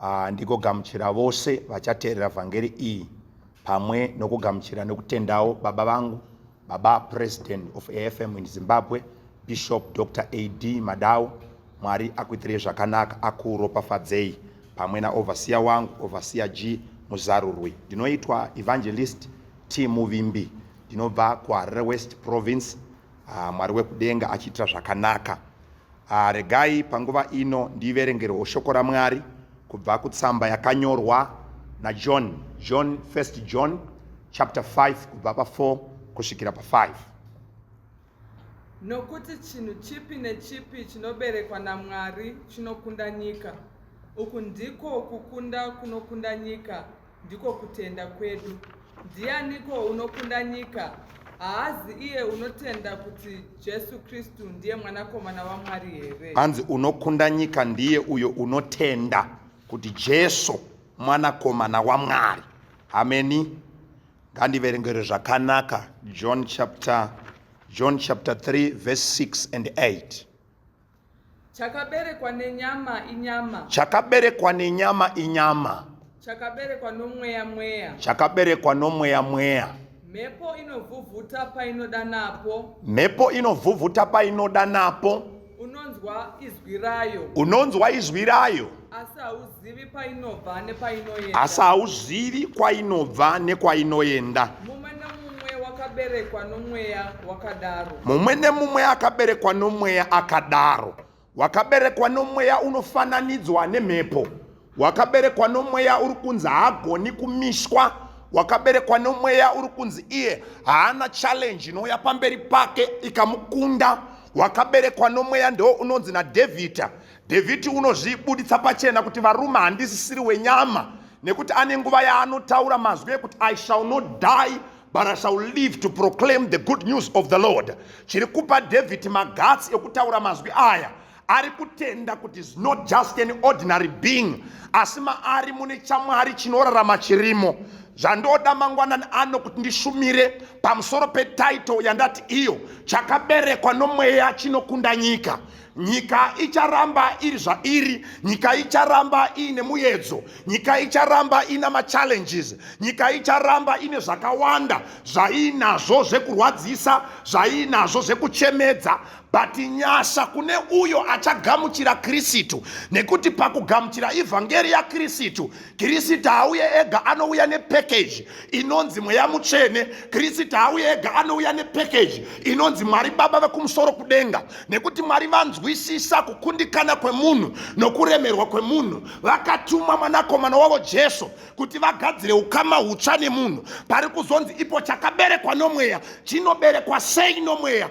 Ah, ndigogamuchira vose vachateerera vhangeri iyi pamwe nokugamuchira nokutendawo baba vangu baba president of afm in zimbabwe bishop dr ad madawo mwari akuitirei zvakanaka akuropafadzei pamwe naovhasiya wangu ovhasiya g muzarurwi ndinoitwa evangelist t muvimbi ndinobva kuharare west province ah, mwari wekudenga achiitira zvakanaka Ah, regai panguva ino ndiverengerwo shoko raMwari kubva kutsamba yakanyorwa naJohn, John, First John chapter 5 kubva pa4 kusvikira pa5. Nokuti chinhu chipi nechipi chinoberekwa naMwari chinokunda nyika. Uku ndiko kukunda kunokunda nyika, Ndiko kutenda kwedu. Ndianiko unokunda nyika? Haazi iye unotenda kuti Jesu Kristu ndiye mwanakomana waMwari here? Hanzi unokunda nyika ndiye uyo unotenda kuti Jesu mwanakomana waMwari. Hameni. Ngandiverengere zvakanaka John chapter John chapter 3 verse 6 and 8. Chakaberekwa nenyama inyama. Chakaberekwa nenyama inyama. Chakaberekwa nomweya mweya. Chakaberekwa nomweya mweya. Mhepo inovhuvhuta painoda napo. Mhepo inovhuvhuta painoda napo. Unonzwa izwi rayo. Unonzwa izwi rayo. Asi hauzivi Zivi painobva nepainoenda. Asi hauzivi kwainobva nekwainoenda. Mumwe nemumwe wakaberekwa nomweya wakadaro. Mumwe nemumwe akaberekwa nomweya akadaro. Wakaberekwa nomweya unofananidzwa nemhepo. Wakaberekwa nomweya uri kunzi haagoni kumishwa. Wakaberekwa nomweya uri kunzi iye haana challenge inouya pamberi pake ikamukunda. Wakaberekwa nomweya ndo unonzi naDhavhidha Dhavhidhi unozvibuditsa pachena kuti varume handisisiri wenyama nekuti ane nguva yaanotaura mazwi ekuti i shall not die but i shall live to proclaim the good news of the lord chiri kupa dhavhidhi magatsi ekutaura mazwi aya ari kutenda kuti is not just an ordinary being asi maari mune chamwari chinorarama chirimo zvandoda mangwanani ano kuti ndishumire pamusoro petaito yandati iyo chakaberekwa nomweya chinokunda nyika nyika icharamba iri zvairi nyika icharamba iine muyedzo nyika icharamba ina machallenges nyika icharamba ine zvakawanda zvaiinazvo zvekurwadzisa zvaiinazvo zvekuchemedza but nyasha kune uyo achagamuchira kristu nekuti pakugamuchira ivhangeri yakristu Kirisita hauye ega anouya nepackage inonzi mweya mutsvene. Kirisita hauye ega anouya nepackage inonzi Mwari Baba vekumusoro kudenga, nekuti Mwari vanzwisisa kukundikana kwemunhu nokuremerwa kwemunhu. Vakatuma mwanakomana wavo Jesu kuti vagadzire ukama hutsva nemunhu. Pari kuzonzi ipo chakaberekwa nomweya chinoberekwa sei nomweya?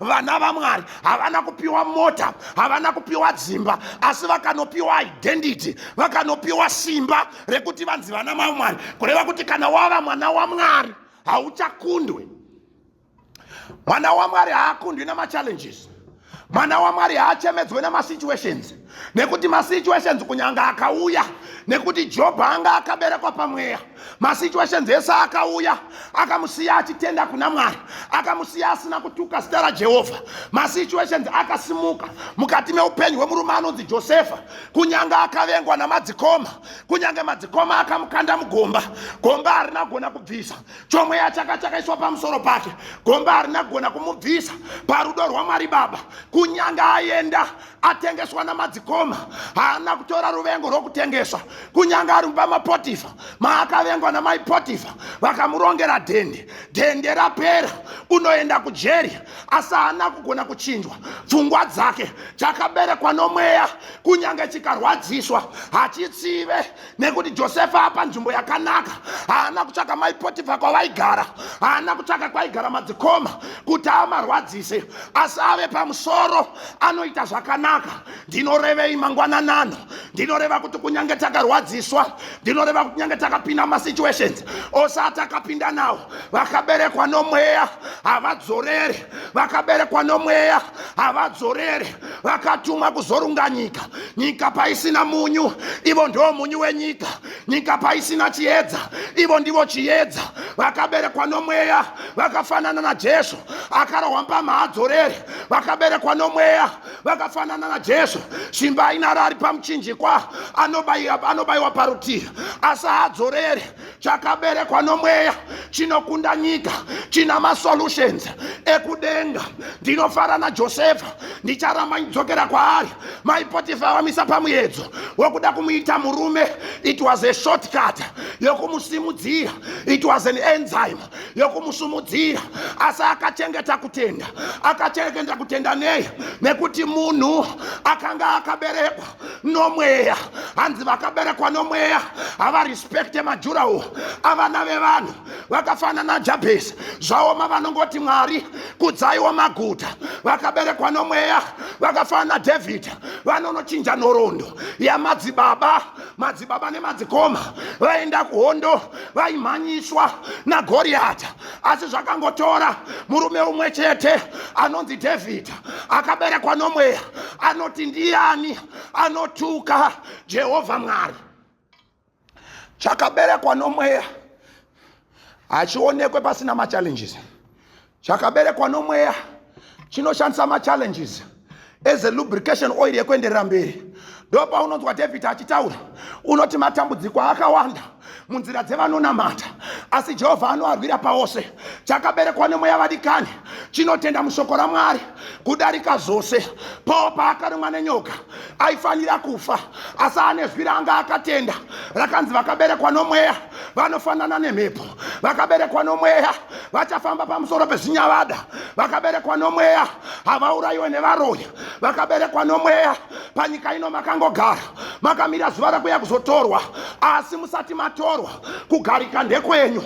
vana vamwari havana kupiwa mota havana kupiwa dzimba asi vakanopiwa identity vakanopiwa simba rekuti vanzi vana mamwari kureva kuti kana wava mwana wamwari hauchakundwe mwana wamwari haakundwi namachallenges mwana wamwari haachemedzwe namasituations nekuti masituations kunyanga akauya nekuti jobho anga akaberekwa pamweya masituations ese akauya akamusiya achitenda kuna mwari akamusiya asina kutuka zita rajehovha masituations akasimuka mukati meupenyu hwemurume anonzi josefa kunyanga akavengwa namadzikoma kunyange madzikoma akamukanda mugomba gomba harina kugona kubvisa chomweya chaka chakaiswa pamusoro pake gomba harina kugona kumubvisa parudo rwamwari baba kunyange aenda atengeswa namadzikoma haana kutora ruvengo rwokutengeswa kunyange ari mumba mapotifa maakavengwa namai potifa vakamurongera dhende dhende rapera unoenda kujeri asi haana kugona kuchinjwa pfungwa dzake chakaberekwa nomweya kunyange chikarwadziswa hachitsive nekuti josefa apa nzvimbo yakanaka haana kutsvaka mai potifa kwavaigara haana kutsvaka kwaigara madzikoma kuti amarwadzise asi ave pamusoro anoita zvakanaka ndinorevei mangwananano ndinoreva kuti kunyange takarwadziswa ndinoreva kuti nyange takapinda masituations ose atakapinda nawo vakaberekwa nomweya havadzorere vakaberekwa nomweya havadzorere vakatumwa kuzorunga nyika nyika paisina munyu ivo ndivo munyu wenyika nyika paisina chiedza ivo ndivo chiedza vakaberekwa nomweya vakafanana najesu akarohwa mpama haadzorere vakaberekwa nomweya vakafanana najesu simba ainaro ari pamuchinjikwa anobayiwa parutivi asi haadzorere chakaberekwa nomweya chinokunda nyika china masolutions ekudenga ndinofara najosefa ndicharamba ndidzokera kwaari mai potifa vamisa pamuedzo wekuda kumuita murume it was a shortcut yokumusimudzira it was an enzyme yokumusumudzira asi akachengeta kutenda akachengeta kutenda nei nekuti munhu akanga akaberekwa nomweya hanzi vakaberekwa nomweya havarespekte majurawo avana vevanhu vakafanana najabhesi zvaoma vanongoti mwari kudzaiwo maguta vakaberekwa nomweya vakafanana nadhavhidha vanonochinja nhoroondo yamadzibaba madzibaba nemadzikoma vaenda kuhondo vaimhanyiswa nagoriyata asi zvakangotora murume umwe chete anonzi dhavhidha akaberekwa nomweya anoti ndiyani anotuka jehovha mwari chakaberekwa nomweya hachionekwe pasina machallenges chakaberekwa nomweya chinoshandisa machallenges as a lubrication oil yekuenderera mberi ndo paunonzwa dhavhidhi achitaura unoti matambudziko akawanda munzira dzevanonamata asi jehovha anoarwira paose chakaberekwa nemweya vadikani chinotenda mushoko ramwari kudarika zvose pawo paakarumwa nenyoka aifanira kufa asi ane zwi raanga akatenda rakanzi vakaberekwa nomweya vanofanana nemhepo vakaberekwa nomweya vachafamba pamusoro pezvinyavada vakaberekwa nomweya havaurayiwe nevaroya vakaberekwa nomweya panyika ino makangogara makamira zuva rakuya kuzotorwa asi musati matorwa kugarika ndekwenyu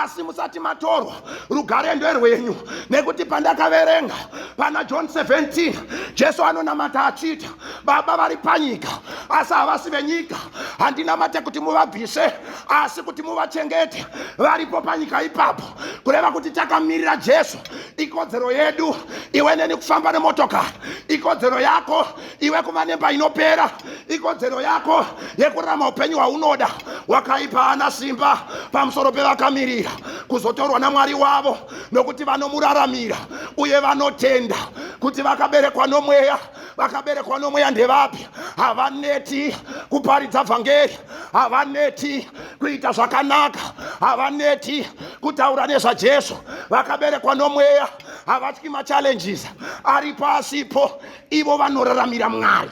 asi musati matorwa rugare nderwenyu nekuti pandakaverenga pana john 17 jesu anonamata achiita baba vari panyika asi havasi venyika handinamate kuti muvabvise asi kuti muvachengete varipo panyika ipapo kureva kuti takamirira jesu ikodzero yedu iwe neni kufamba nemotokari ikodzero yako iwe kuva nemba inopera ikodzero yako yekurarama upenyu hwaunoda wakaipa ana simba pamusoro pevakamirira kuzotorwa namwari wavo nokuti vanomuraramira uye vanotenda kuti vakaberekwa nomweya vakaberekwa nomweya ndevapi havaneti kuparidza vhangeri havaneti kuita zvakanaka havaneti kutaura nezvajesu vakaberekwa nomweya havatyi machallenges ari pasipo ivo vanoraramira mwari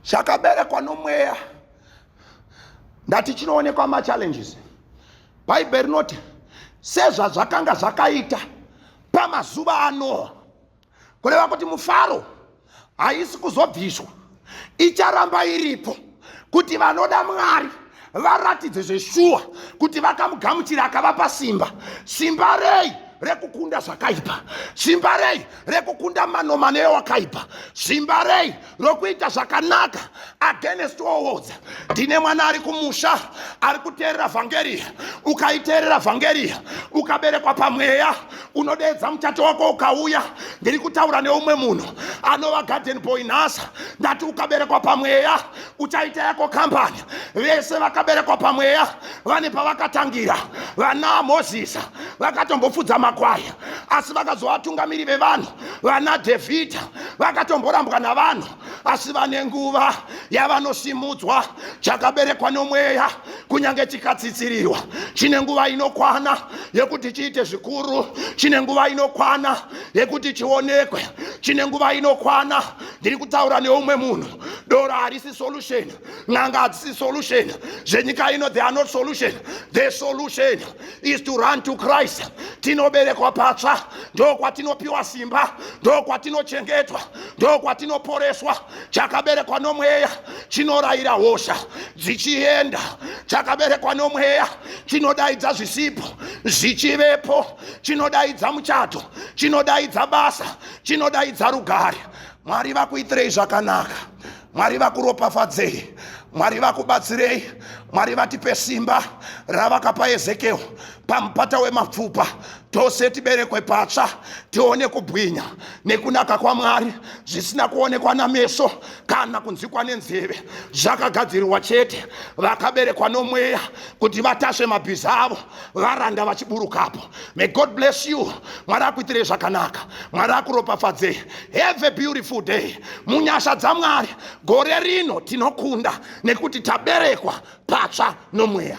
chakaberekwa nomweya ndati chinoonekwa machallenges bhaibheri rinoti sezvazvakanga zvakaita pamazuva anoa kureva kuti mufaro haisi kuzobviswa icharamba iripo kuti vanoda mwari varatidze zveshuwa kuti vakamugamuchira akavapa simba simba rei rekukunda zvakaipa simba rei rekukunda manomano ewakaipa simba rei rokuita zvakanaka against oodza ndine mwana ari kumusha ari kuteerera vhangeriya ukaiteerera vhangeriya ukaberekwa pamweya unodeedza muchato wako ukauya ndiri kutaura neumwe munhu anova garden boy nhasa ndati ukaberekwa pamweya uchaita yako kambani vese vakaberekwa pamweya vane pavakatangira vana mozisa vakatombofudza makwaya asi vakazovatungamiri vevanhu vana dhevhidha vakatomborambwa navanhu asi vane nguva yavanosimudzwa chakaberekwa nomweya kunyange chikatsitsirirwa chine nguva inokwana yekuti chiite zvikuru chine nguva inokwana yekuti chionekwe chine nguva inokwana ndiri kutaura neumwe munhu doro harisi solution n'anga hadzisi solution zvenyika ino the are not solution the solution is to run to christ tinoberekwa patsva ndokwatinopiwa simba ndokwatinochengetwa ndokwatinoporeswa chakaberekwa nomweya chinorayira hosha dzichienda chakaberekwa nomweya chinodaidza zvisipo zvichivepo chinodaidza muchato chinodaidza basa chinodaidza rugare mwari vakuitirei zvakanaka mwari vakuropafadzei mwari vakubatsirei mwari vatipe simba ravakapa ezekeo pamupata wemapfupa tose tiberekwe patsva tione kubwinya nekunaka kwamwari zvisina kuonekwa nameso kana kunzwikwa nenzeve zvakagadzirirwa chete vakaberekwa nomweya kuti vatasve mabhiza avo varanda vachiburukapo may god bless you mwari akuitirei zvakanaka mwari akuropafadzei have a beautiful day munyasha dzamwari gore rino tinokunda nekuti taberekwa patsva nomweya